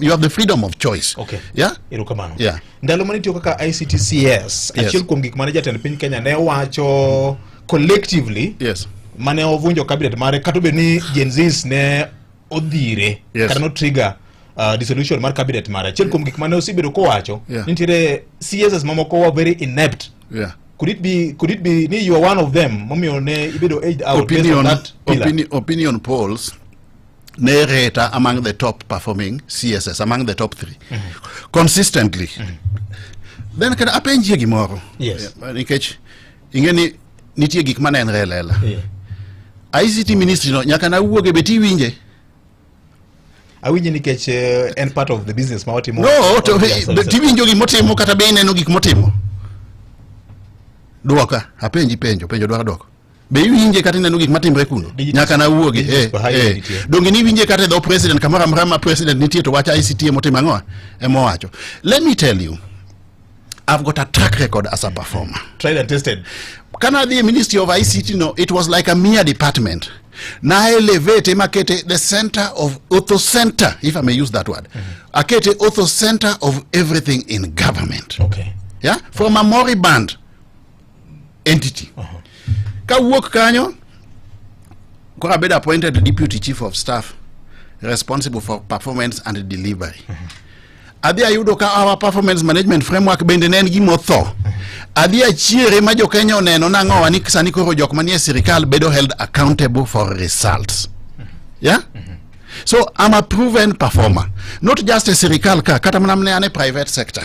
you have the freedom of choice okay yeah erokamano yeah ndalo mane tiyo kaka ICTCS yes. achiel kuom gik mane jatend piny Kenya ne wacho collectively yes mane ovunjo cabinet mare kata obedo ni Gen Zs ne odhire yes. kata no trigger uh, dissolution mar cabinet mare achiel kuom gik mane osebedo kowacho yeah. nitiere CSs mamoko wa very inept yeah could it be could it be ni you are one of them momiyo ne ibedo aged out opinion, based on that pillar? opinion, opinion polls Nereta among the top performing CSS, among the top three mm -hmm. consistently mm -hmm. then kata apenjie gimoro yes. nikech ing'e ni nitie gik ma nenre e lela yeah. ICT ministry no nyaka nawuoge be tiwinje awinje nikech uh, en part of the business ma watimo no to tiwinjo gik motimo kata be ineno gik motimo dwoka apenji penjo penjo dwaro dwoko be iwinje kata ineno gik matimre kuno nyaka nawuogi eh, eh. donge ni iwinje kata e dho president kamoro amora ma president nitie to wach ict emotimo ang'o emowacho let me tell you I've got a track record as a performer. Tried and tested. Can I be a ministry of ICT? No, it was like a mere department. Na elevate makete the center of auto center, if I may use that word. Mm -hmm. Akete auto center of everything in government. Okay. Yeah, from a moribund entity. Uh-huh. Kawuok kanyo koro abedo appointed deputy chief of staff responsible for performance and delivery. Uh-huh. Adhi ayudo ka our performance management framework bende ne en gima otho. Uh-huh. Adhi achiere ma jo Kenya oneno nang'owa ni sani koro jok manie sirikal bedo held accountable for results. Yeah? So I'm a proven performer, not just a sirikal ka kata mana mne ane private sector.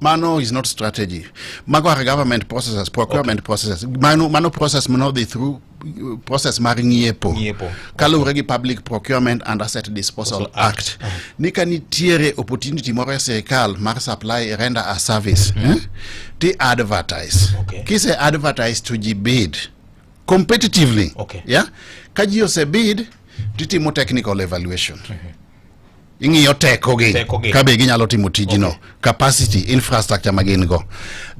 Mano is not strategy. Mago are government processes, procurement okay. processes. Mano, mano process may not be through uh, process mar ng'iepo kaluwore gi public procurement and asset disposal act, act. Uh -huh. ni ka nitiere opportunity moro e sirikal mar supply render a service mm -hmm. eh? ti advertise okay. kise advertise to ji bid competitively okay. yeah? ka ji osebid titimo technical evaluation mm -hmm. ing'iyo tekogi Tekogi. ka be ginyalo timo tijno capacity infrastructure ma gin go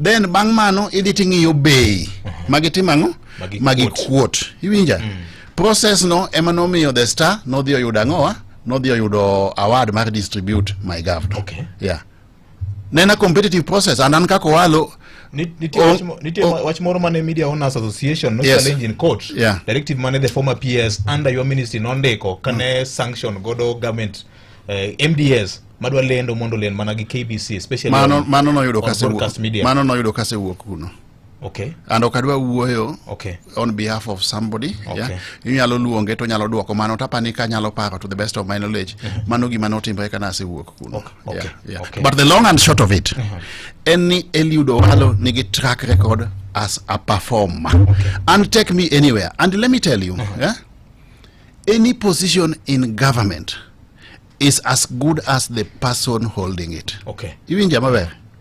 then bang' mano idhi ting'iyo bei ma gitimo ang'o Magi ma kuot. gikuot iwinja process no ema nomiyo the star nodhi oyudo ang'owa nodhi oyudo award mar distribute my governor Okay. yeah nena competitive process and an kaka walo nitie wach mo- nitie oh. wach moro mane media owners association no Yes. challenge in court Yeah. directive mane the former ps under your ministry nondiko kane sanction godo government eh, mds madwa lendo mondo lend mana gi kbc especially mano on- mano noyudo on kase broadcast media. mano noyudo kase wuok kuno Okay. And ok adwa wuoyo okay. on behalf of somebody. Okay. Yeah. Inyalo luonge to nyalo duoko mano tapa ni ka nyalo paro to the best of my knowledge. Mm -hmm. Mano gima notimore kana asewuok kuno. Okay. Okay. Yeah. Yeah. Okay. But the long and short of it, mm -hmm. en ni Eliud Owalo nigi track record as a performer. Okay. And take me anywhere. And let me tell you, mm -hmm. yeah, any position in government is as good as the person holding it. Okay. Iwinja maber.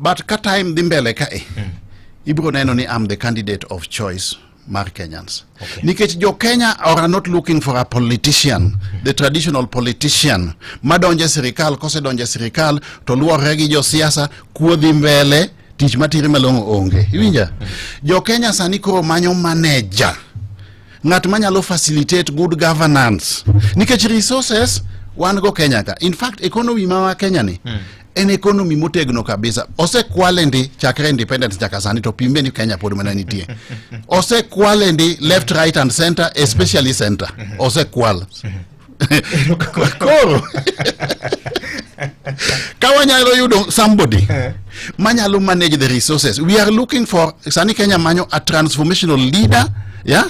But ka time dhi mbele ka e, mm. ibiro neno ni am the candidate of choice mar Kenyans. Okay. Nikech jo Kenya are not looking for a politician, mm. the traditional politician madonje sirikal kose donje sirikal to luorre gi josiasa kuodhi mbele tich matire malong'o onge. Iwinja? Mm. Jo Kenya sani koro manyo manager. Ng'at manyalo facilitate good governance. Nikech resources wan go Kenya ka. In fact, economy ma wa Kenya ni mm. en economy motegno kabisa osekwale ndi chakre independence nyaka sani to pime ni kenya pod mana nitie osekwale ndi left right and center especially center osekwal koro ka wanyalo yudo somebody manyalo manage the resources we are looking for sani kenya manyo a transformational leader yeah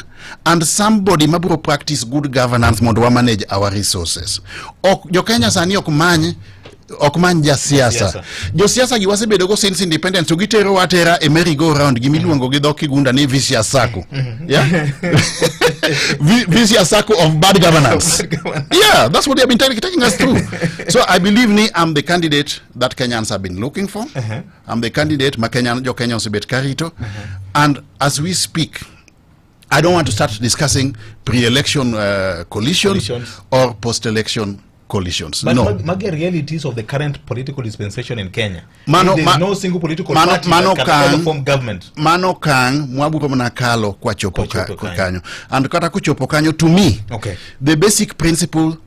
and somebody mabiro practice good governance mondo wa manage our resources ok jo kenya sani ok many ok man jasiasa josiasa gi wasebedo go since independence to gitero atera e merry go round gi miluongo gi dho kigunda ni vicious circle yeah Vi- vicious circle of bad governance yeah that's what they have been taking, taking us through so i believe ni i'm the candidate that kenyans have been looking for i'm the candidate ma kenyan jo kenya osebet karito and as we speak I don't want to start discussing pre-election uh, coalitions, coalitions, or post-election coalitions. But no. Mage realities of the current political dispensation in Kenya. Mano, ma, no single political mano, party mano that can kang, form government. Mano kang mwaburo mna kalo kwa chopo, kwa chopo kanyo. And kata kuchopo kanyo to me, okay. the basic principle